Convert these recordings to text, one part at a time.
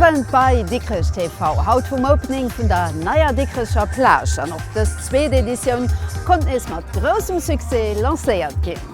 Wëllent bei Dikrech TV. Haut vum Opening vun der neier Dikrecher Plage an och dës zweet Editioun konnt nees mat groussem Succès lancéiert ginn.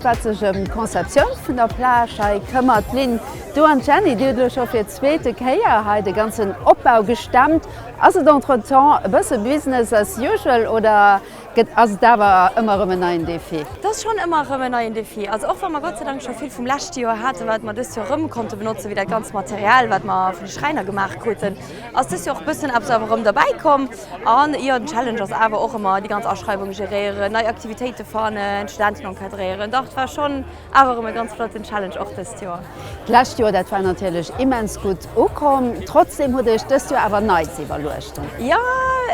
Wat sech ëm d'Conceptioun vun der Plage hei këmmert, d'Lynn, du an d'Jenny, dir hutt elo scho fir d'zweete Kéier hei de ganzen Opbau gestemmt. Ass et entretemps e bësse Business as usual oder gëtt, ass et awer ëmmer erëm en neien Defi? Et ass schonn ëmmer erëm en neien Defi. Also och wa mer Gott sei Dank scho vill vum leschte Joer haten, wat mer dëst Joer erëm konnte benotzen, wéi dat ganzt Material, wat mer vun de Schräiner gemaach kruten, Ass dëst Joer och bëssen eppes awer erëm derbäi komm. An jo, den Challenge ass awer och ëmmer déi ganz Aschreiwung geréieren, nei Aktivitéite fannen, d'Studenten encadréieren. Dach, et war schonn awer erëm e ganz flotten Challenge och dëst Joer. D'lescht Joer, dat war natierlech immens gutt ukomm. Trotzdeem hutt Dir Iech dëst Joer awer nei ze iwwerluechten. Jo,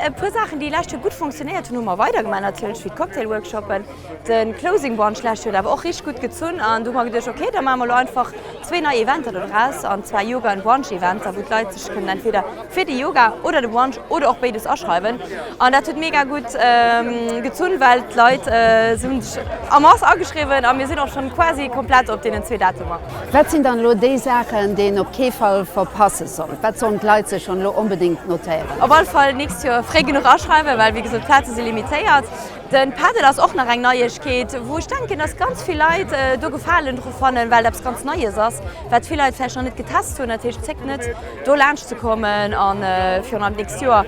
e puer Saachen, déi lescht Joer gutt funktionéiert hunn, hu mer weidergemaach, natierlech wéi d'Cocktail-Workshoppen. De Closing Brunch d'lescht Joer huet awer och richteg gutt gezunn an du hu mer geduecht, ok, da maache mer elo einfach zwee nei Eventer do draus, an zwar Yoga an Brunch Eventer, wou d'Leit sech kënnen entweder fir de Yoga oder de Brunch oder och béides aschreiwen. An dat huet mega gutt gezunn, well d'Leit si hunn sech en masse ageschriwwen a mir sinn och schonn quasi komplett op deenen zwee Datumer. Wat sinn dann elo déi Saachen, déi een op kee Fall verpasse sollt? Wat sollen d'Leit sech schonn elo onbedéngt notéieren? Op alle Fall nächst Joer fréi genuch aschreiwen, well wéi gesot d'Plaze si limitéiert. Den Paddle ass och nach eng Neiegkeet wou ech denken dass ganz vill Leit do Gefalen dru fannen well et eppes ganz Neies ass wat vill Leit vläicht nach net getest hunn. Dat heescht zéckt net do laanscht ze kommen a virun allem d'nächst Joer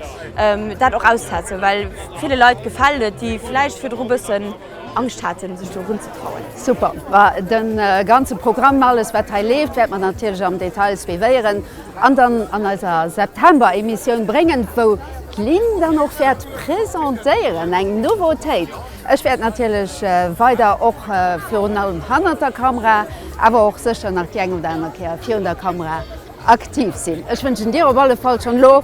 dat och auszestetzen well ville Leit gefält et déi vläicht virdru bëssen Angscht haten sech do runzetrauen. Super, ma den ganzen Programm, alles wat hei leeft wäerte mer natierlech am Detail suivéieren. An dann an eiser September-Emissioun bréngen, wou d'Lynn dann och wäert presentéieren, eng Nouveautéit. Ech wäert natierlech weider och virun allem hannert der Kamera, awer och sécher nach déi eng oder aner Kéier virun der Kamera aktiv sinn. Ech wënschen dir op alle Fall schonn elo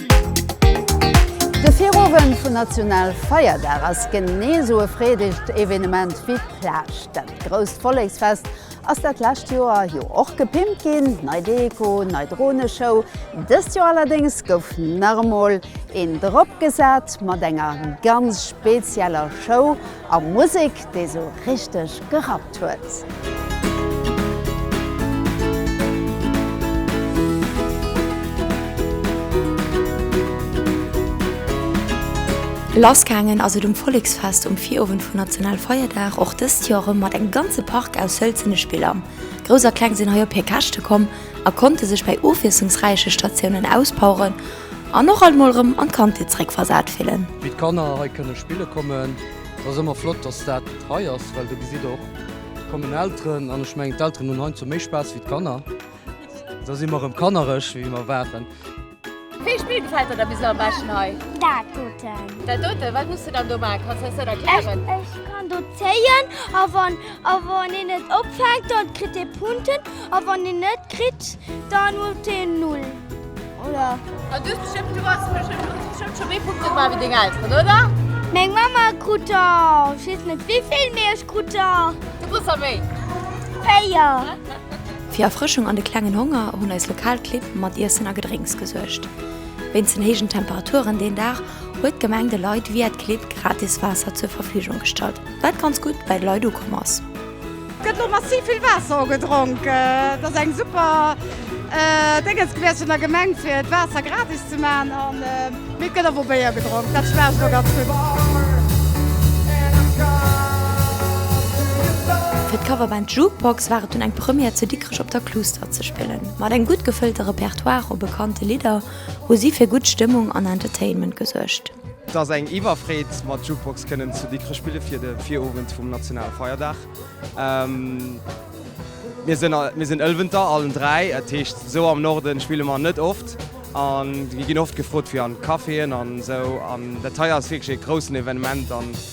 De Virowend vun Nationalfeierdag ass genee esou e freedegt Evenement wéi d'Plage. Dat grousst Volleksfest ass dat lescht Joer jo och gepimpt ginn, nei Deko, nei Droneshow. Dëst Joer allerdéngs gouf nach emol een drop gesat mat enger ganz spezieller Show. A Musek déi sou richteg gerappt huet. Lass gaangen ass et um Volleksfest um Virowend vun National Feierdag, och dëst Joer erëm mat engem ganze Park aus hëlzene Spiller. Grouss a Kleng sinn hei op hir Käschte komm a konnte sech bei ofwiesslungsräiche Statiounen auspoweren An och alt mol rem an d'Kandheet zeréck versat fillen. Wéi d'Kanner hei kënne spille kommen. Et ass ëmmer flott, dass dat hei ass, well do gesitt och, et kommen Elteren an ech mengen d'Elteren hunn heiansdo méi Spaass wéi d'Kanner. Da si mer rem kannerech, wéi mer waren. Wéi Spill gefält der da bis elo am beschten hei? Dat doten. Dat doten? Wat muss de dann do maachen? Kanns de eis dat erklären? Ech kann do zéien a wann a wann een et opfänkt, dann kritt ee Punkten a wann een net kritt, dann huet een null. Meng Mamma krut der, ech weess net wéivill, mee ech krut der véier. Fir Erfrëschung an de klengen Honger hunn eis lokal Clibb mat Iessen a Gedrénks gesuergt. Wéinst den héijen Temperaturen deen Dag huet d'Gemeng de Leit via d'Clibb gratis Waasser zur Verfügung gestallt, wat ganz gutt bei de Leit ukomm ass. Gëtt lo massiv vill Waasser ugedronk. Et ass eng super Déngens gewiescht vun der Gemeng, fir d'Waasser gratis ze maachen. A mee et gëtt awer Béier gedronk, dat schmaacht elo ganz gutt. Fir d'Coverband Jukebox war et dunn eng Première zu Dikrech op der Kluuster ze spillen. Mat engem gutt gefëllte Repertoire u bekannte Lidder hu si fir gutt Stëmmung an Entertainment gesuergt. Et ass eng Iwwerfreed mat Jukebox kënnen zu Dikrech spille fir de Virowend vum nationale Feierdag. Mir sinn, mir sinn Ëlwenter allen dräi, dat heescht esou am Norden spille mer net oft a mir ginn oft gefrot fir an Caféen an esou an dat hei ass wierklech e groussen Evenement.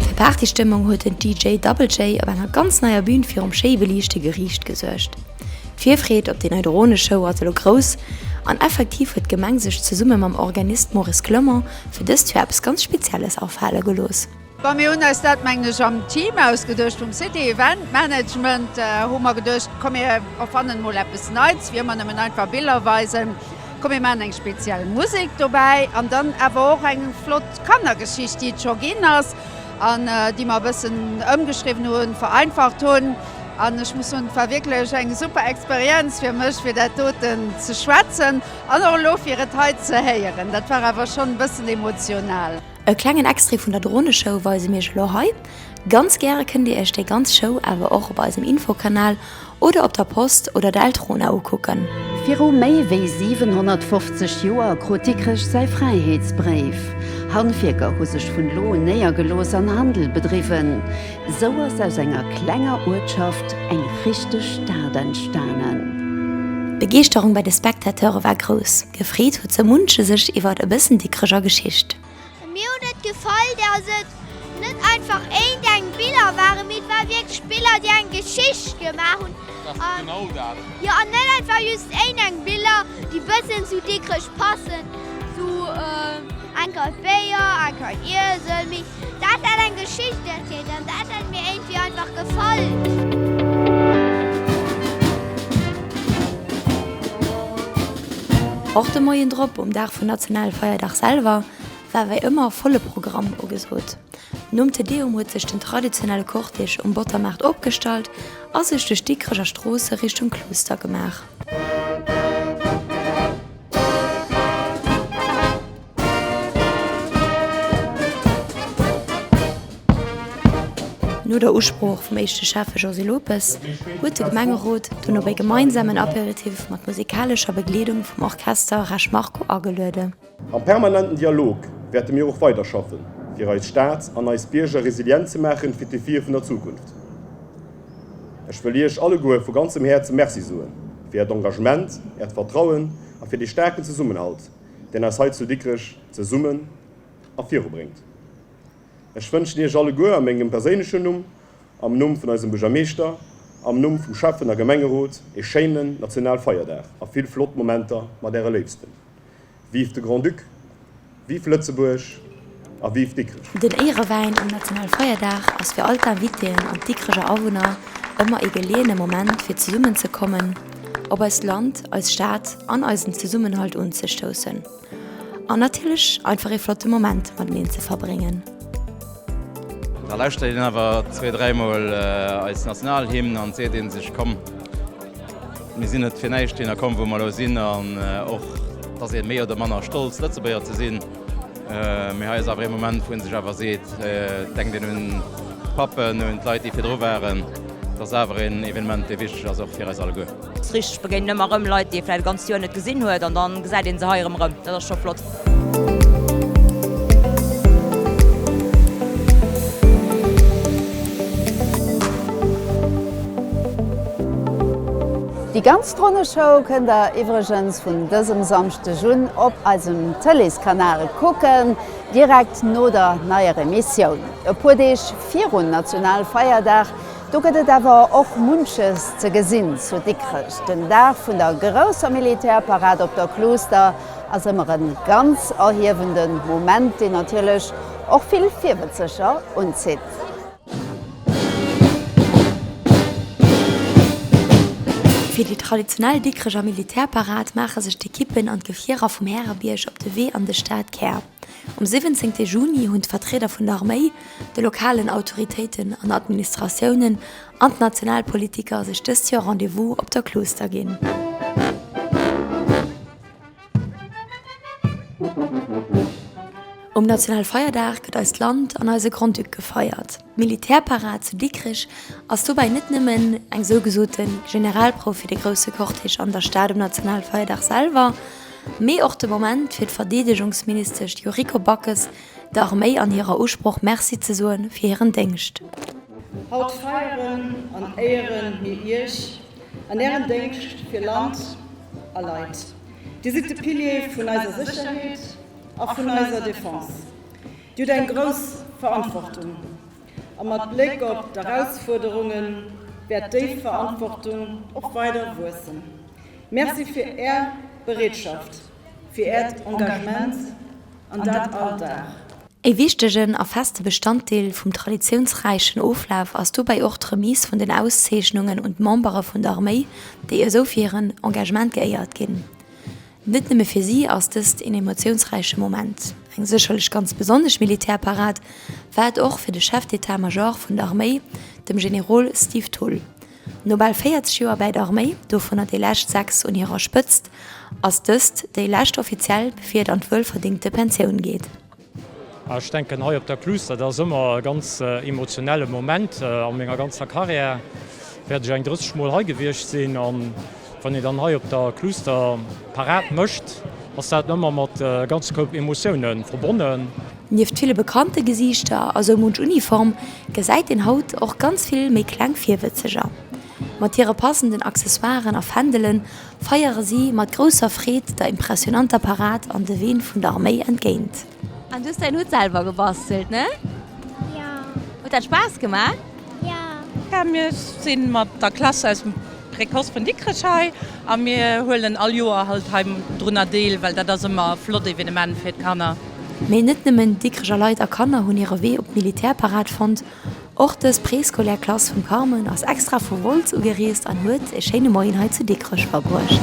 Fir Partystëmmung huet den DJ Double J op enger ganz neier Bün virum schéi beliichte Geriicht gesuergt. D'Virfreed op déi nei Droneshow ass elo grouss an effektiv huet d'Gemeng sech zesumme mam Organist Maurice Clement fir dëst Joer eppes ganz Spezielles afale gelooss. Bon, mir hunn eis dat, mengen ech, am Team ausgeduecht vum City Event Management. Hu mer geduecht, komm mir erfannen emol eppes Neits, wéi ëmmer nëmmen einfach Biller weisen. Komm mir maachen eng speziell Musek dobäi an dann awer och eng flott Kannergeschicht, déi et scho ginn ass an déi mer e bëssen ëmgeschriwwen hunn, vereinfacht hunn. An ech muss soen, et war wierklech eng super Experienz fir mech, fir dat doten ze schwätzen an och elo fir et hei ze héieren. Dat war awer schonn e bëssen emotional. E klengen Extrait vun der Droneshow weise mir iech elo hei. Ganz gäre kënnt dir iech déi ganz Show awer och op eisem Infokanal oder op der Post oder der Eltrona ukucken. Viru méi wéi 750 Joer krut Dikrech säi Fräiheetsbréif. Handwierker hu sech vun do un néiergelooss an Handel bedriwwen. Sou ass aus enger klenger Uertschaft eng richteg Stad entstanen. D'Begeeschterung bei de Spectateure war grouss. Gefreet huet sou munche sech iwwert e bëssen dickreger Geschicht. Mir huet et gefall dass et net einfach éint eng Biller waren, mee et war wierklech Biller déi eng Geschicht gemaach hunn. Dat ass genau dat. Jo, an net einfach just éint eng Biller déi bëssen zu Dikrech passen, sou eng Kal Béier, eng Kal Iesel, mee Dat hat eng Geschicht erzielt an dat hat mir éintwéi einfach gefall. Och de Moien drop, um Dag vun Nationalfeierdag selwer, war wéi ëmmer volle Programm ugesot. Nom Te Deum huet sech den traditionelle Cortège um Bottermaart opgestallt a sech duerch d'Dikreger Stroosse Richtung Klooster gemaach. No der Usprooch vum éischte Schäffe Josy Lopes huet de Gemengerot dunn op e gemeinsamen Aperitif mat musikalescher Begleedung vum Orchester Resch Marco ageluede. Am permanenten Dialog wäerte mir och weider schaffen, fir eis Stad an eis Bierger resilient ze maachen fir d'Defie vun der Zukunft. Ech wëll Iech alleguer vu ganzem Häerze Merci soen fir Äert Engagement, Äert Vertrauen a fir dee staarken Zesummenhalt, deen eis hei zu Dikrech zesummen ervirubréngt. Ech wënschen Iech alleguer a mengem perséinlechen Numm, am Numm vun eisem Buergermeeschter, am Numm vum Schäffen a Gemengerot ee schéinen Nationalfeierdag a vill flott Momenter mat Äre Léifsten. Vive de Grand-Duc! Vive Lëtzebuerg! a vive Dikrech! Den Éierewäin um Nationalfeierdag ass fir all d'Invitéen an d'Dikrecher Awunner ëmmer ee geleeëne Moment fir zesummen ze kommen, op eist Land, eis Stad an eisen Zesummenhalt unzestoussen an natierlech einfach ee flotte Moment mateneen ze verbréngen. Da lauschtert een awer zwee, dräi Mol eis Nationalhymn an et seet ee sech, komm, mir sinn net fir näischt hierner komm, wou mer elo sinn an och, dass ee méi oder manner stolz Lëtzebuerger ze sinn. Mee hei ass awer ee Moment, wou ee sech awer seet, denkt een un d'Pappen, un d'Leit, déi virdru waren. Et ass awer een Evenement, dee wichteg ass och fir eis alleguer. Et ass richteg, begéinen ëmmer erëm Leit, déi ee vläicht e ganzt Joer net gesinn huet, an da gesäit ee se hei erëm erëm. Dat ass scho flott. Déi ganz Droneshow kënnt der iwwregens vun dësem Samschdeg un op eisem Tëleeskanal kucken, direkt no der neier Emissioun. E puer Deeg virun Nationalfeierdag, do gëtt et awer och munches ze gesinn zu Dikrech. Den Dag vun der grousser Militärparad op der Kluuster ass ëmmer e ganz erhiewende Moment, deen natierlech och vill Virbëzzeger unzitt. Fir déi traditionell Dikreger Militärparad maache sech d'Ekippen an d'Gefierer vum Härebierg op de Wee an de Stadkär. Um 17 Juni hunn d'Vertrieder vun der Arméi, de lokalen Autoritéiten an Administratiounen an d'Nationalpolitiker sech dëst Joer Rendez-vous op der Klooster ginn. Um Nationalfeierdag gëtt eist Land an eise Grand-Duc gefeiert. D'Militärparad zu Dikrech ass dobäi net nëmmen eng sougesoote Generalprouf fir de grousse Cortège an der Stad um Nationalfeierdag selwer, mee och de Moment fir d'Verdeedegungsministesch Yuriko Backes der Arméi an hirer Usproch Merci ze soe fir hiren Déngscht. Haut feieren an éieren mir Iech an Ärem Déngscht fir Land a Leit. Dir sidd de Pilier vun eiser Sécherheet a vun eiser Defense. Dir hutt eng grouss Verantwortung a mat Bléck op d'Erausfuerderunge wäert déi Verantwortung och weider wuessen. Merci fir Är Bereetschaft, fir Äert Engagement an dat all Dag. E wichtegen a feste Bestanddeel vum traditiounsräichen Oflaf ass dobäi och d'Remise vun den Auszeechnungen un d'Membere vun der Arméi, déi esou fir hiren Engagement geéiert ginn. Net nëmme fir si ass dëst een emotiounsräiche Moment, eng sécherlech ganz besonnesch Militärparad war et och fir de Chef d'État-Major vun der Arméi, dem Generol Steve Thull. No bal 40 Joer bäi der Arméi, dovunner déi lescht sechs un hirer Spëtzt, ass dëst déi lescht offiziell, bevir et an d'wuelverdéngte Pensioun geet. Ech denken hei op der Cluse, dat ass ëmmer e ganz emotionelle Moment. A menger ganzer Karriär wäert ech eng 30 Mol hei gewiescht sinn. Wann een dann hei op der Cluster Parade mécht, ass dat ëmmer mat e ganze Koup Emotioune verbonnen. Nieft ville bekannte Gesiichter a sou munch Uniform gesäit een haut och ganz vill méi kleng Virwëtzeger. Mat hire passenden Accessoiren a Fändele feiere si mat grousser Freed der impressionanter Parade an de Ween vun der Arméi entgéint. An du hues däin Hutt selwer gebastelt, ne? Jo. Huet dat Spaass gemaach? Jo. Mir si mat der Klass aus dem Précoce vun Dikrech hei a mir huelen all Joer halt hei drunner deel, well dat ass ëmmer e flott Evenement fir d'Kanner. Mee net nëmmen Dikrecher Leit a Kanner hunn hire Wee op d'Militärparad fonnt. Och dës préscolaire Klass vum Carmen ass extra vu Wolz ugereest an huet e schéine Moien hei zu Dikrech verbruecht.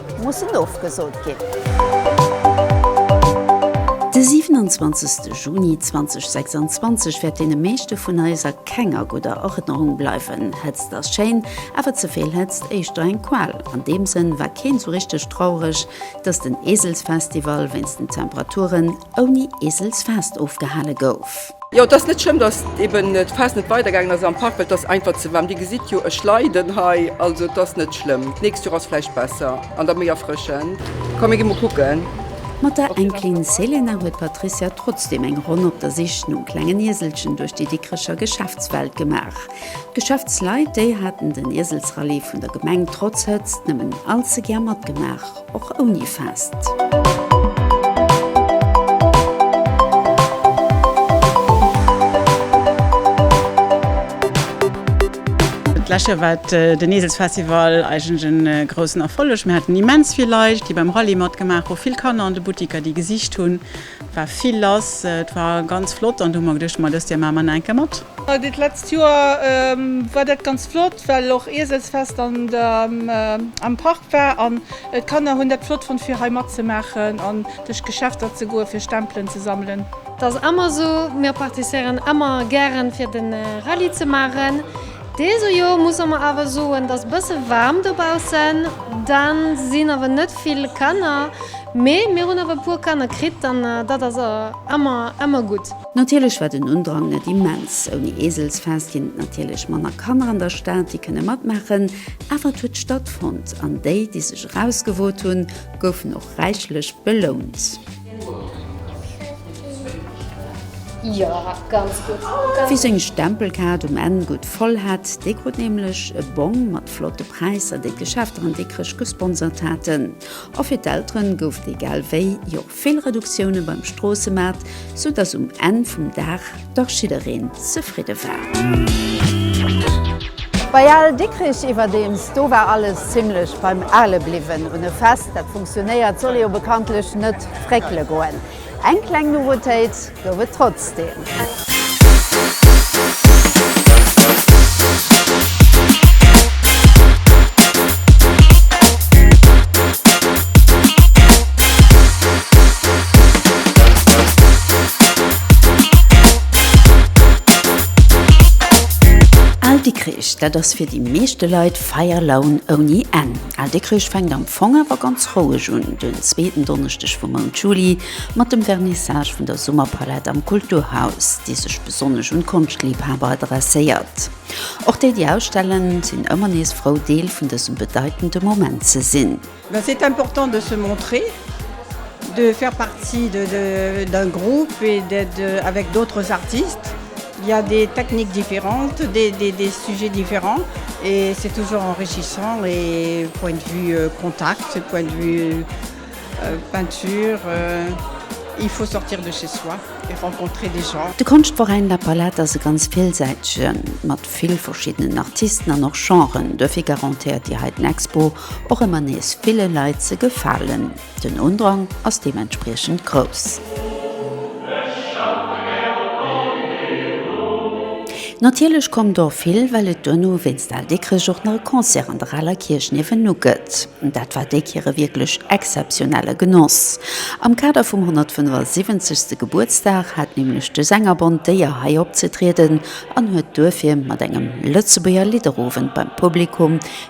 mussen ofgesot ginn. De 27 Juni 2026 wäert deene meeschte vun eis a kenger gudder Erënnerung bleiwen. Hëtzt ass schéin, awer ze vill Hëtzt éischter eng Qual. An deem Sënn war keen sou richteg traureg, dass den Eselsfestival wéinst den Temperaturen ouni Eselsfest ofgehale gouf. Jo et ass net schlëmm dass eben d'Fest net weider gaangen ass am Park well et ass einfach ze waarm. Dir gesitt jo ech leiden hei also et ass net schlëmm. D'nächst Joer ass vläicht besser an da méi erfrëschend. Komm mir gi mol kucken. Mat der Enkelin Selena huet d'Patricia trotzdeem eng Ronn op der Sich nom klengen Ieselchen duerch déi Dikrecher Geschäftswelt gemaach. D'Geschäftsleit, déi haten den Ieselsrallye vun der Gemeng trotz Hëtzt nëmmen allze gär matgemaach. Och ouni Fest. D'lescht Joer war den Eselsfestival eigentlech e groussen Erfolleg. Mir haten immens vill Leit, déi beim Rallye matgemaach hu, vill Kanner an de Buttiker, déi gesicht hunn, Et war vill lass, et war ganz flott an do hu mer geduecht, ma dëst Joer maache mer nach eng Kéier mat. Dit letzt Joer war dat ganz flott, well och Ieselsfest am Park war an d'Kanner hunn dat flott fonnt fir hei matzemaachen an duerch d'Geschäfter ze goen, fir Stempelen ze sammelen. Dat ass èmmer esou, mir participéieren èmmer gären fir den Rallye ze maachen. Deso Joer musse mer awer soen, et ass e bësse waarm dobaussen, da sinn awer net vill Kanner, mee mir hunn awer e puer Kanner kritt an dat ass ëmmer, ëmmer gutt. Natierlech war den Undrang net immens. Ouni Eeselsfest ginn et natierlech manner Kanner an der Stad, déi kënne matmaachen, awer et huet stattfonnt an déi, déi sech erausgewot hunn, goufen och räichlech belount. Wie seng Stempelkaart um Enn gutt voll hat, dee krut nämlech e Bong mat flotte Präisser, déi d'Geschäfter an Dikrech gesponsert haten. A fir d'Eltere gouf et egal wéi jo och vill Reduktioune beim Stroossemaart, sou dass um Enn vum Dag, Dach jiddereen zefridde war. Bei Al Dikkrich iwwerdeems, do war alles zimlech beim Ale bliwwen. Un e Fest, dat funktionéiert, soll ee jo bekanntlech net fréckele goen. Eng kleng Nouveautéit gouf et trotzdeem. Al Dikrich, dat ass fir déi meeschte Leit Feierlaun ouni Enn. Al Dikrich fänkt am Fong awer ganz roueg un, den zweeten Donneschdeg vum Mount Juli, mat dem Vernissage vun der Summerpalett am Kulturhaus, déi sech besonnesch un d'Konschtliebhaber adresséiert. Och déi, déi ausstellen, sinn ëmmer nees frou, Deel vun dësem bedeitende Moment ze sinn. C'est important de se montrer, de faire partie d'un groupe et d'être avec d'autres artistes. Il y a des techniques différentes, des sujets différents et c'est toujours enrichissant et point de vue contact, point de vue peinture, il faut sortir de chez soi et rencontrer des gens. De Konschtveräin La Palette ass e ganz villsäitegen, mat vill verschiddenen Artisten an och Genren. Duerfir garantéiert Dir hei den Expo och ëmmer nees ville Leit ze gefalen. Den Undrang ass deementspriechend grouss. Natierlech kommen der och vill, well et duerno wéinst Al Dikkrich och nach e Concert an der Aler Kierch niewendu gëtt. Dat war déi Kéier e wierklech exzeptionelle Genoss. Am Kader vum 175. Gebuertsdag hat nämlech de Sängerbond d'Éier hei opzetrieden an huet duerfir mat engem Lëtzebuerger Lidderowend beim Publikum,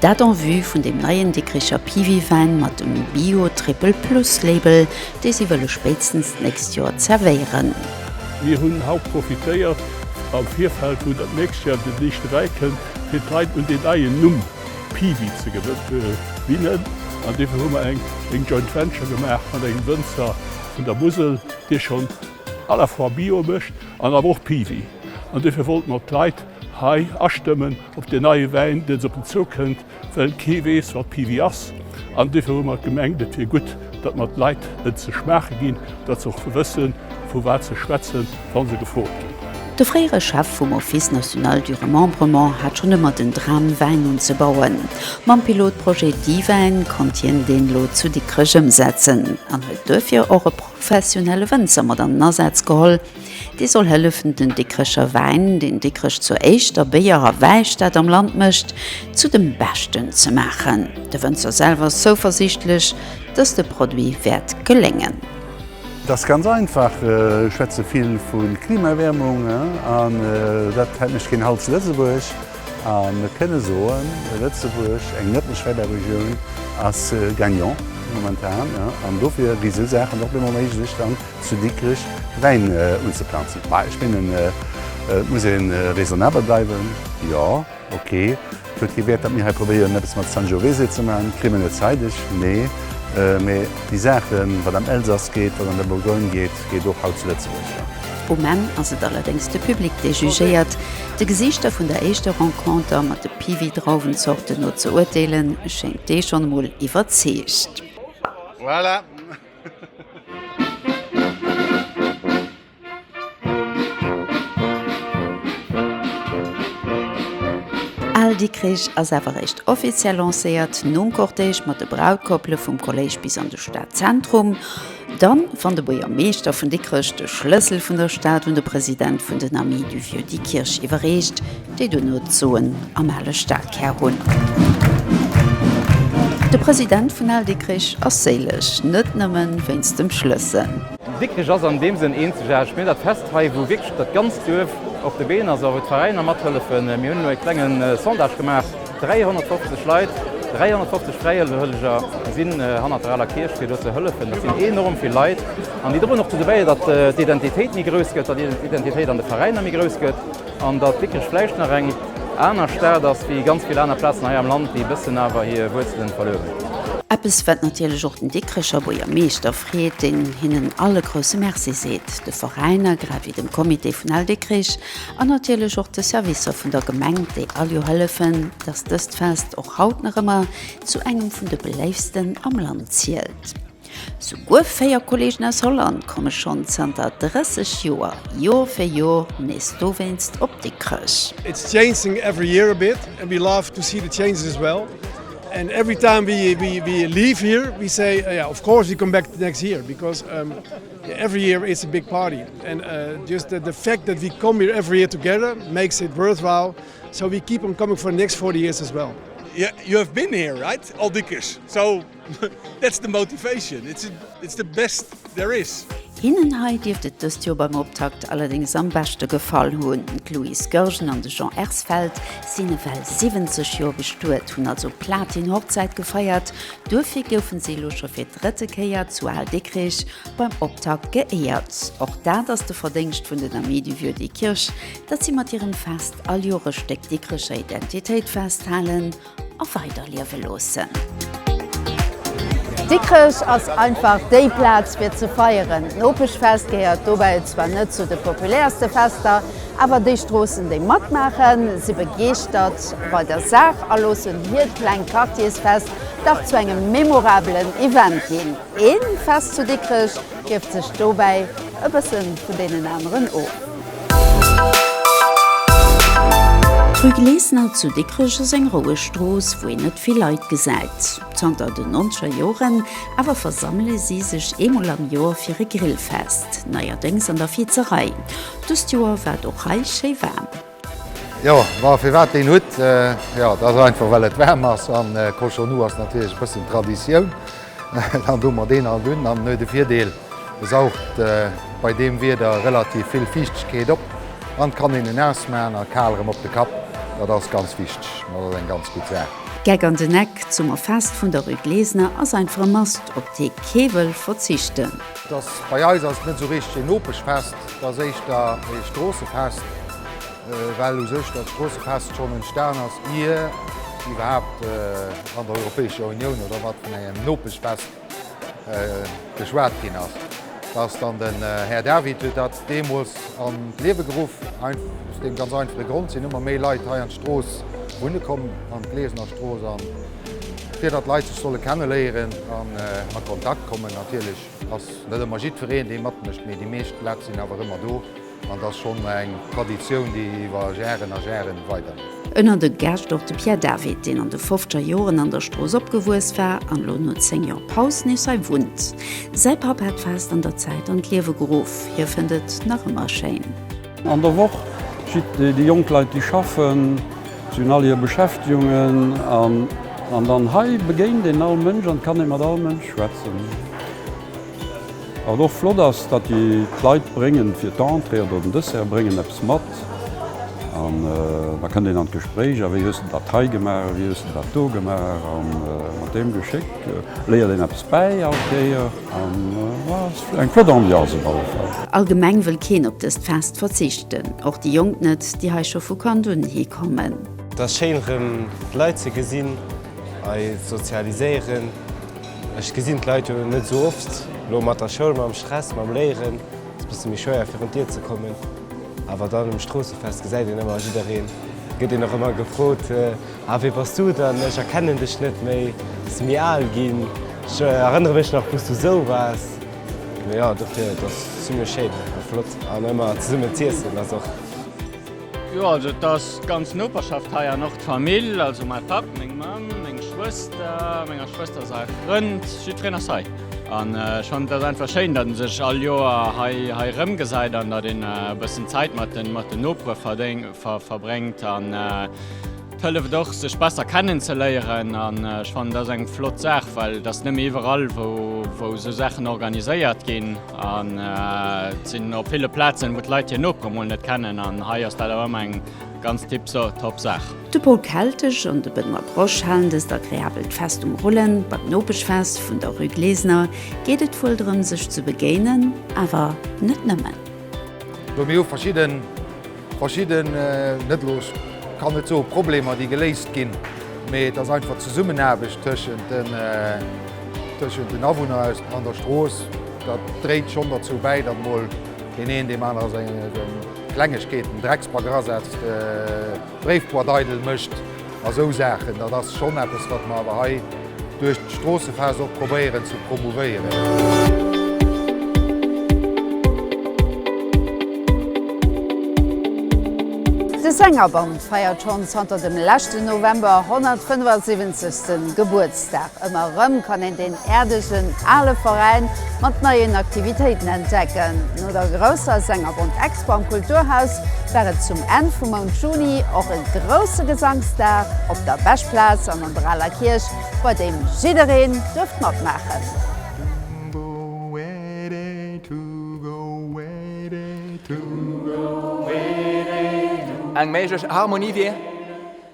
Dat en vue vun dem neien Dikricher Piwi-Wäin mat dem Bio Triple Plus Label, dee si wëlle spéitstens d'nächst Joer zerwéieren. Mir hunn haut profitéiert, am Virfeld wou dat nächst Joer den éischte Wäi kënnt, fir d'Leit un deen neien Numm Piwi ze gewinnen. An dofir hu mer eng Joint Venture gemaach mat engem Wënzer vun der Musel, dee schonn à la fois Bio mécht an awer och Piwi. An dofir wollte mer d'Leit hei astëmmen. Ob den neie Wäin dëst op den Zou kënnt, well kee weess, wat Piwi ass. An dofir hu mer gemengt, et wier gutt, datt mer d'Leit en ze schmaache ginn, datt se och wëssen, vu wat se schwätzen, wa se gefrot ginn. De fréiere Chef vum Office national du remembrement hat schonn ëmmer den Dram, Wäin unzebauen. Mam Pilotprojet Diwäin konnt hien deen elo zu Dikrech ëmsetzen an huet duerfir och e professionelle Wënzer mat an den Asaz geholl, Dee soll hëllefen den Dikrecher Wäin, deen Dikrech zur éischter Béier a Wäistad am Land mécht, zu dem Beschten ze maachen. De Wënzer selwer ass zouversiichtlech, dass de Produit wäert geléngen. Et ass ganz einfach, ech schwätze vill vu Klimaerwäermung an dat hält mech keen Halt zu Lëtzebuerg. A mir kënne soen, Lëtzebuerg, eng net méi schwäibar Regioun, ass gagnant momentan an dofir gi sou Saachen och méi méiglech. Zu Dikrech Wäin unzeplanzen? Bah, ech mengen, et muss ee raisonnabel bleiwen. Jo, ok. Et huet kee Wäert, datt mir hei probéieren, eppes mat Sangiovese ze maachen. Kritt mer net zeideg, nee. Mä déi Saachen, wat am Elsass geet, wat an der Bourgogne geet, geet och haut zu Lëtzebuerg. Um Enn ass et allerdéngs de Public, dee jugéiert. De Gesiichter vun der éischter Renconter mat de Piwi-Drauwenzorten no ze urteelen, schéngt dee schonn emol iwwerzeegt. Voilà! Al Dikrich ass awer réischt offiziell lancéiert nom Cortège mat de Brautkopple vum Kolléisch bis an de Stadzentrum. Dann, wann de Buergermeeschter vun Dikrech de Schlëssel vun der Stad un de President vun den Amis du Vieux Dikkirch iwwerreecht, déi duerno d'Soen am ale Stadkär hunn. De President vun Al Dikrich ass séileg, net nëmme wéinst dem Schlëssel. Dikrich ass an deem Sënn eenzegaarteg. Mir hunn dat Fest hei, wou wierklech dat ganzt Duerf op de Been ass, a wou d'Veräiner mathëllefen. Mir hunn elo e klenge Sondage gemaach, 350 Leit, 350 Fräiwëlleger sinn hannert der aler Kierch, fir do ze hëllefen. Dat sinn enorm vill Leit an déi droen och dozou bäi, datt d'Identitéit méi grouss gëtt, datt d'Identitéit an de Veräiner méi grouss gëtt. An datt Dikrech vläicht nach eng aner Stad ass wéi ganz vill aner Plazen hei am Land, déi e bëssen awer hir Wuerzelen verluer hunn. Eppes wat natierlech och den Dikrecher Buergermeeschter freet, deen hinnen all e grousse Merci seet, de Veräiner, grad wéi dem Comité vun Al Dikrech an natierlech och de Servicer vun der Gemeng, déi all Joer hëllefen, datt dëst Fest och haut nach ëmmer zu engem vun de beléiftsten am Land zielt. Souguer véier Kolleegen aus Holland komme schonn zanter 30 Joer Joer fir Joer nees dowéinst op Dikrech. It's changing every year a bit and we love to see the changes as well and every time we leave here we say yeah of course we come back the next year because every year it's a big party and just the fact that we come here every year together makes it worthwhile so we keep on coming for the next 40 years as well. You have been here, right? Old Dikrech. Hinnen hei dierft et dëst Joer beim Optakt allerdéngs am beschte gefall hunn. D'Louise Goergen an de Jean Ersfeld sinn ewell 70 Joer bestuet, hunn also Platin-Hochzäit gefeiert. Duerfir goufe se elo scho fir d'drëtte Kéier zu Aal-Dikrech beim Optakt geéiert. Och dat ass de Verdéngscht vun den Amis du Vieux Dikrech, datt si mat hirem Fest alljore Stéck Dikrecher Identitéit festhalen. a weiderliewe loossen. Dikrech ass einfach déi Plaz fir ze feieren. D'Nopeschfest gehéiert dobäi zwar net zu de populäerste Fester, awer déi Stroossen, déi matmaachen, si begeeschtert bei der Saach a loossen hiert klengt Quartiersfest dach zu engem memorabelen Event ginn. Ee Fest zu Dikrech Gierft sech dobäi e bësse vun deenen aneren of. D'Rue Glesener zu Dikrech ass eng roueg Strooss, wou een net vill Leit gesäit. Zanter den nonzeger Joren awer versammele si sech eemol am Joer fir e Grillfest, neierdéngs an der Vizerei. Dëst Joer war et och hei schéi waarm. Jo ma firwat deen Hutt? Jo dat ass einfach well et waarm ass an Cochon Nu ass natierlech e bëssen Traditioun. Dann doen mer deen alt un an en huet de Virdeel e saugt bei deem Wieder relativ vill Fiichtegkeet op an et kann een en ausmaachen a kal erëm op de Kapp. Dat ass ganz wichteg, dat ass eng ganz gutt Saach. Geck an den Eck, D'Summerfest vun der Rue Glesener ass einfach e Must op dee kee wëll verzichten. Bei eis ass et net esou richteg een Nopeschfest. Et ass éischter ee Stroossefest, well u sech dat Stroossefest schonn entstan ass, ier iwwerhaapt an der Europäescher Unioun oder mat vun engem Nopeschfest geschwat ginn ass. Dass dann den Här David huet dat deemools an d'Liewe geruff, aus deem ganz einfache Grond sinn ëmmer méi Leit hei an d'Strooss wunne komm, an d'Glesener Strooss, a fir datt d'Leit sech solle kenneléieren an a Kontakt kommen natierlech. Et ass net ëmmer jiddwereen, dee matmécht, mee déi meescht Lät sinn awer ëmmer do an et ass schonn eng Traditioun, déi iwwer Jaren a Jaren weiderleeft. Ënner de Gäscht och de Pierre David, deen an de fofzeger Joren an der Strooss opgewuess war an elo no 10 Joer Paus nees hei wunnt. Säi Papp hat d'Fest an der Zäit an d'Liewe geruff. Hie fënnt et nach ëmmer schéin. An der Woch jitt déi jonk Leit déi schaffen, se hunn all hir Beschäftegungen an dann hei begéint een all Mënsch an kann ee mat all Mënsch schwätzen. Wat och flott ass, datt déi d'Leit bréngen fir d'Entrée oder den Dessert bréngen eppes mat an da kënnt een an d'Gespréich, a wéi hues de dat hei gemaach a wéi hues de dat do gemaach a mat deem Geschéck léiert een eppes bäi all Kéier. Eng flott Ambiance op alle Fall. Allgemeng wëll keen op dëst Fest verzichten, och déi Jonk net, déi hei scho vu Kand un hi kommen. Et ass schéin rëm d'Leit ze gesinn, hei sozialiséieren. Ech gesinn d'Leit jo net esou oft, elo mat der Schoul, mam Stress, mam Léieren ass bësse méi schwéier virun d'Dier ze kommen, awer dann um Stroossefest gesäit een ëmmer jiddereen, gëtt een och ëmmer gefrot. Ah wee bass du dann? Ech erkennen dech net méi, bass du méi al ginn? Ech erënnere mech nach wou s du sou waars. Mee jo, dofir et ass zimmlech schéin a flott an ëmmer zesummen z'iessen ass och. Jo also et ass d'ganz Noperschaft hei an och d'Famill, also mäi Papp, meng Mamm, meng Schwëster, menger Schwëster säi Frënd, jiddwereen ass hei an ech fannen et ass einfach schéin, datt ee sech all Joer hei hei erëmgesäit an datt een e bëssen Zäit mat den Nopere verbréngt. Hëlleft och sech besser kennen ze léieren an ech fannen dat ass eng flott Saach, well dat ass net méi iwwerall wou esou Saachen organiséiert ginn an et sinn op ville Plazen wou d'Leit hir Nopere mol net kennen an hei ass dat awer ëmmer eng ganz tiptop Saach. De Paul Keltesch an de Benoît Brosch halen dëst agreabelt Fest um Rullen. Beim Nopeschfest vun der Rue Glesener geet et wuel drëm sech ze begéinen, awer net nëmmen. Well mir hu verschidden Verschidden, net elo, ech kann net soen Problemer, déi geléist ginn, mee et ass einfach d'Zesummenaarbecht tëschent den, tëschent den Awunner aus, an der Strooss, dat dréit schonn derzou bäi, datt mol deen een deem aner seng Klengegkeeten, Drecksbagger asetzt, d'Bréifboîte eidel mécht. A sou Saachen, dat ass schonn eppes, wat mer awer hei duerch d'Stroossefaarst och probéieren ze promouvéieren. De Sängerband feiert schonn zanter dem leschten November 175. Gebuertsdag. Dag ëmmer erëm kann een deen äerdegen ale Veräin mat neien Aktivitéiten entdecken. No der grousser Sängerbond-Expo am Kulturhaus war et zum Enn vum Mount Juni och e grousse Gesangsdag op der Beschplaz an an der Aler Kierch, bei deem jiddereen duerft matmaachen.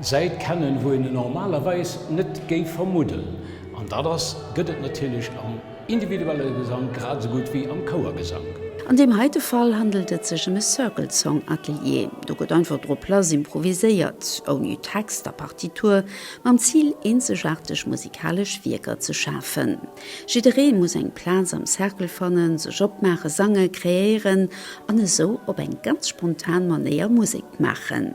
Säit kennen, wou een en normalerweis net géif vermudden, an dat ass, gëtt et natierlech am individuelle Gesank grad esou gutt wéi am Chouergesank. An deem heite Fall handelt et sech em e Circle Song Atelier. Do gëtt einfach drop lass improviséiert, ouni Text a Partitur, mam Zil eenzegaarteg musikalesch Wierker ze schafen. Jidderee muss eng Plaz am Cercle fannen, sech opmaachen, sangen, kreéieren an esou op eng ganz spontan Manéier Musek maachen.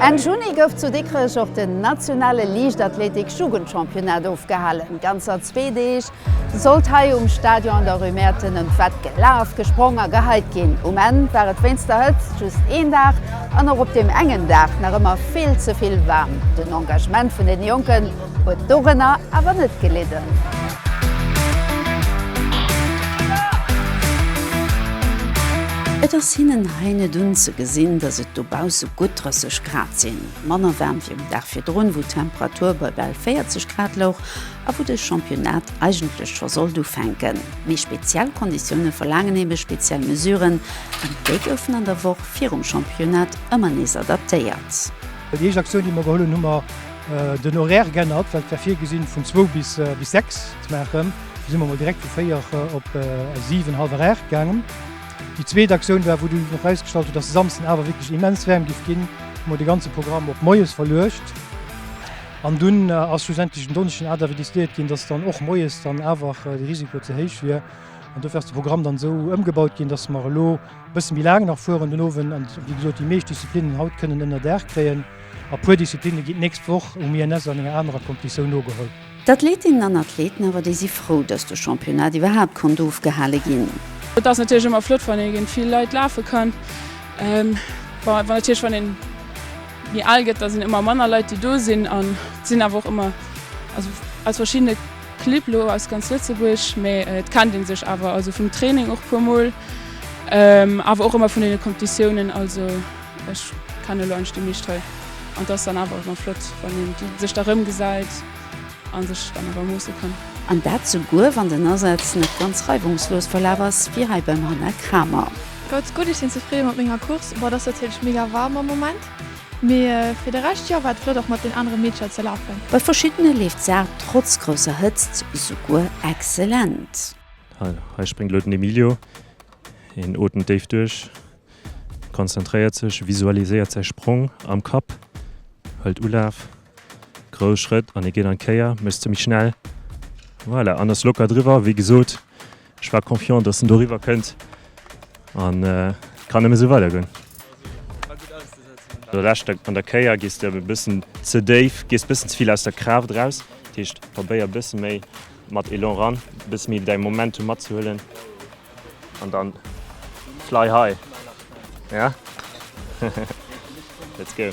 Enn Juni gouf zu Dikrech och den nationale Liichtathletik-Jugendchampionnat ofgehalen. Ganzer zwee Deeg sollt hei um Stadion an der Rue Merten ëm d'Wett gelaf, gesprong a geheit ginn. Um Enn war et wéinst der Hëtzt just een Dag an och op deem engen Dag nach ëmmer vill ze vill waarm. Den Engagement vun den Jonken huet dorënner awer net gelidden. Et ass hinnen hei net unzegesinn, dass et dobausse gutt 30 Grad sinn. Manner waarm wéi um Dag virdrun, wou d'Temperatur bei bal 40 Grad louch a wou de Championnat eigentlech scho sollt ufänken. Mee speziell Konditioune verlaangen ebe speziell Mesuren an déi goufen an der Woch virum Championnat ëmmer nees adaptéiert. Déi éischt Aktioun, déi mer geholl hunn, hu mer. Den Horaire g'ännert, well et war virgesinn vun zwou bis sechs ze maachen, du si mer mol direkt vu véier op siwen, hallwer aacht gaangen. Déi zweet Aktioun war, wou du nach erausgestallt huet, dass de Samsden awer wierklech immens waarm géif ginn, hu mer de ganze Programm op moies verluecht. An dunn ass schlussendlech den Donneschden awer decidéiert ginn, dass dann och moies dann awer de Risiko ze héich wier an dofir ass de Programm dann esou ëmgebaut ginn, dass mer elo, Bësse méi laang nach fueren den Owend an wéi gesot déi meescht Disziplinnen haut kënnen ënner Daach kréien. A puer Disziplinne ginn d'nächst Woch um INS an enger anerer Competitioun nogeholl. D'Athletinnen an Athleten awer, déi si frou, datt de Championnat iwwerhaapt konnt ofgehale ginn. Et ass natierlech ëmmer flott wann ee géint vill Leit lafe kann. Bon awer natierlech wann een méi al gëtt, da sinn ëmmer manner Leit déi do sinn an sinn awer och ëmmer also aus verschiddene Clibb lo aus ganz Lëtzebuerg, mee et kennt een sech awer also vum Training och puer mol awer och ëmmer vun den Competitiounen. Also ech kenne lo eischt déi meescht hei an dass dann awer ëmmer flott wann een déi sech da rëmgesäit an sech dann awer moosse kann. An dat souguer wann den Asaz net ganz reiwungslos verlaf ass wéi hei beim Hannah Kramer. Ganz gutt, ech sinn zefridde mat menger Course. Boah, et ass natierlech mega waarm am Moment. Mee fir de Rescht, jo, war et flott och mat den anere Meedercher ze lafen. Bei verschiddene leeft d'Saach trotz grousser Hëtzt souguer excellent. Hei spréngt elo den Emilio. Hien otemt déif duerch, konzentréiert sech, visualiséiert säi Sprong am Kapp, hëlt Ulaf, grouss Schrëtt an hie geet an d'Kéier, mécht se méi schnell, voilà, an ass locker driwwer. Wéi gesot, Ech war confiant, dass en do riwwer kënnt an et kann nëmme sou weider goen. An der leschter an der Kéier gees de e bëssen ze déif, gees e bëssen ze vill aus der Kraaft eraus. Dat heescht, probéier e bësse méi mat Elan eran, e bësse méi däi Momentum matzehuelen an dann fly high, ja? Let's go!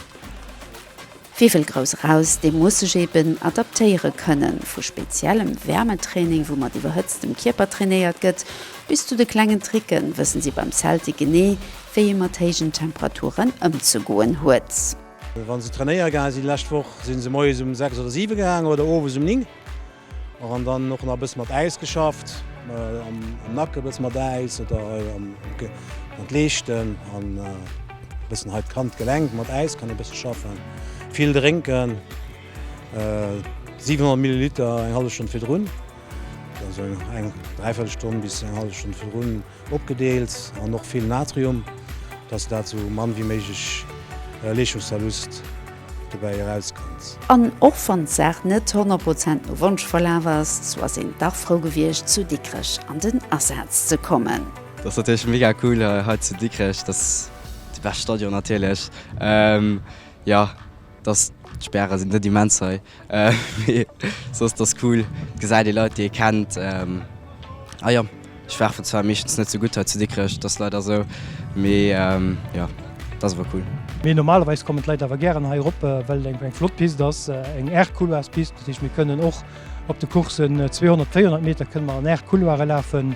Wie wëll grouss eraus, dee muss sech eben adaptéiere kënnen, vu speziellem Wäermetraining, wou mat iwwerhëtztem Kierper trainéiert gëtt, bis zu de klengen Tricken, wëssen si beim Celtic genee, wéi ee mat héijen Temperaturen ëmzegoen huet. Wa se trainéiere gaange sinn, lescht Woch si se moies um sechs oder siwe gaangen oder owes um ning. An dann och nach e bësse mat Äis geschafft, am Nacken e bësse mat Äis oder hei an d'Leeschten an e bëssen hei d'Kand, d'Gelenk mat Äis kann ee bësse schaffen. Vill drénken, 700 Milliliter eng hallef Stonn virdrun, also eng dräi Véierel Stonn bis eng hallef Stonn virdrun. Opgedeelt an och vill Natrium, dass dat sou mann wéi méiglech Leeschungsverlust dobäi erauskënnt. An och wann d'Saach net 100 Prozent no Wonsch verlaf ass, sou ass een dach frou gewiescht zu Dikrech an den Asaz ze kommen. Ass natierlech mega cool hei zu Dikrech, dass déi bescht Stadion natierlech, jo dass d'Späre sinn net immens hei. Mee soss ass cool, et gesäit ee Leit déi ee kennt. A jo, ech werfen zwar meeschtens net sou gutt hei zu Dikrech, et ass leider esou, mee jo, et ass awer cool. Mee normalerweis kommen d'Leit awer gären hei erop, well et eng flott Pist ass, eng Air-Couloirs-Pist. Dat heescht, mir kënnen och op de Courssen 200, 400 Meter kënne mer an Air-Couloire lafen.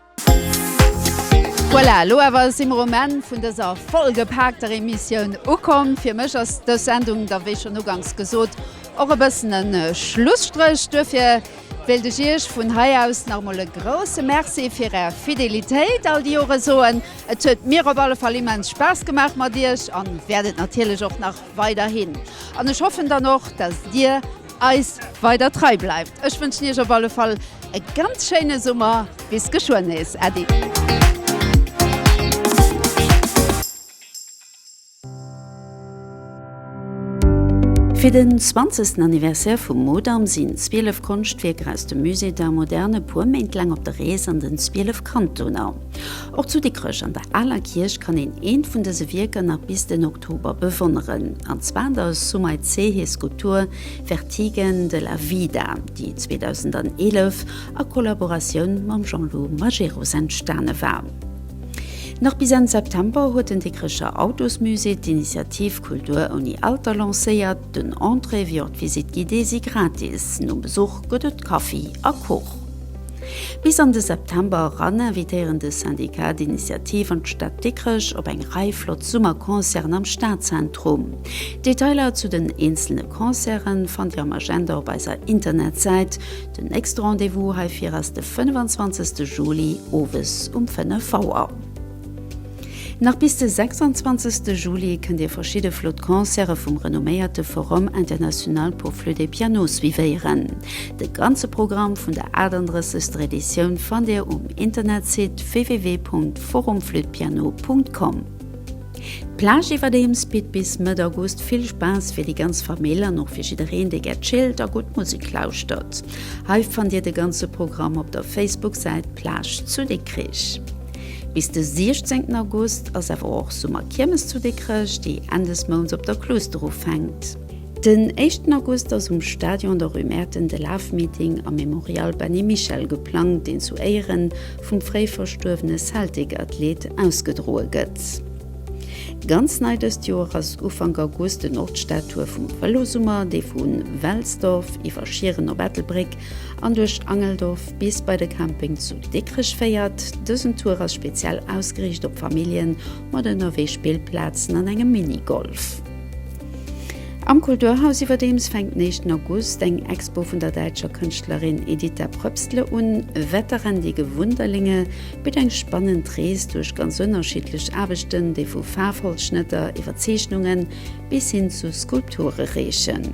Voilà, elo awer si mer um Enn vun dëser vollgepaakter Emissioun ukomm. Fir mech ass dës Sendung da wéi schonn uganks gesot och e bëssen e Schlusstréch. Duerfir wéilt ech Iech vun hei aus nach emol e grousse Merci fir Är Fidelitéit all déi Jore soen. Et huet mir op alle Fall immens Spaass gemaach mat Iech an wäert et natierlech och nach weiderhin. An ech hoffen dann och, dass Dir, eis weider trei bleift. Ech wënschen iech op alle Fall e ganz schéine Summer. Bis geschwënn nees. Äddi. Fir den zwanzegsten Anniversaire vum Mudam sinn 12 Konschtwierker aus dem Musée d'Art moderne puer Méint laang op der Rees an den 12 Kantoner. Och zu Dikrech an der Aler Kierch kann een eent vun dëse Wierker nach bis den Oktober bewonneren, an zwar an der Soumaï Cehe Skulptur Vertige de la Vida, déi 2011 a Kollaboratioun mam Jean-Lou Majerus entstane war. Nach bis Enn September huet den Dikrecher Autosmusée d'Initiativ Kultur ouni Alter lancéiert. Den Entrée wéi och d'Visite guidée si gratis. Nom Besuch gëtt et Kaffi a Kuch. Bis an de September eran invitéieren de Syndicat d'Initiative an d'Stad Dikrech op eng Rei flott Summerconcerten am Stadzentrum. D'Detailer zu den eenzelne Concerte fannt Dir am Agenda op eiser Internetsäit. Den nächste Rendez-vous heifir ass de 25 Juli owes um 5 Auer. Nach bis de 26 Juli kënnt Dir verschidde flott Concerte vum renomméierte Forum International pour Flûte et Piano suivéieren. De ganze Programm vun der 38. Editioun fannt Dir um Internetsite www.forumflütepiano.com. D'Plage iwwerdeems bitt bis Mëtt August vill Spaass fir déi ganz Famill an och fir jiddereen, dee gär chillt a gutt Musek lauschtert. Hei fannt Dir de ganze Programm op der Facebook-Säit Plage zu Dikrich. Bis de 16 August ass awer och Summerkiermes zu Dikrech, déi Enn des Mounts op der Kluuster ufänkt. Den éischten August ass um Stadion der Rue Mäerten de Lafmeeting am Mémorial Benny Michel geplangt, deen zu Éieren vum fréi verstuerwene Celtic-Athlet ausgedroe gëtt. Ganz nei dëst Joer ass Ufank August den och d'Statue vum Vëlosummer, déi vu Welsdorf iwwer Schieren op Ettelbréck an duerch Angeldorf bis bei de Camping zu Dikrech féiert. Dësen Tour ass speziell ausgeriicht op Familljen mat ënnerwee Spillplazen an engem Minigolf. Am Kulturhaus iwwerdeems fänkt den éischten August eng Expo vun der däitscher Kënschtlerin Editha Pröpstler un. Wetterendige Wunderlinge bitt eng spannend Rees duerch ganz ënnerschiddlech Aarbechten, déi vu Faarfholzschnëtter iwwer Zeechnungen bis hin zu Skulpture reechen.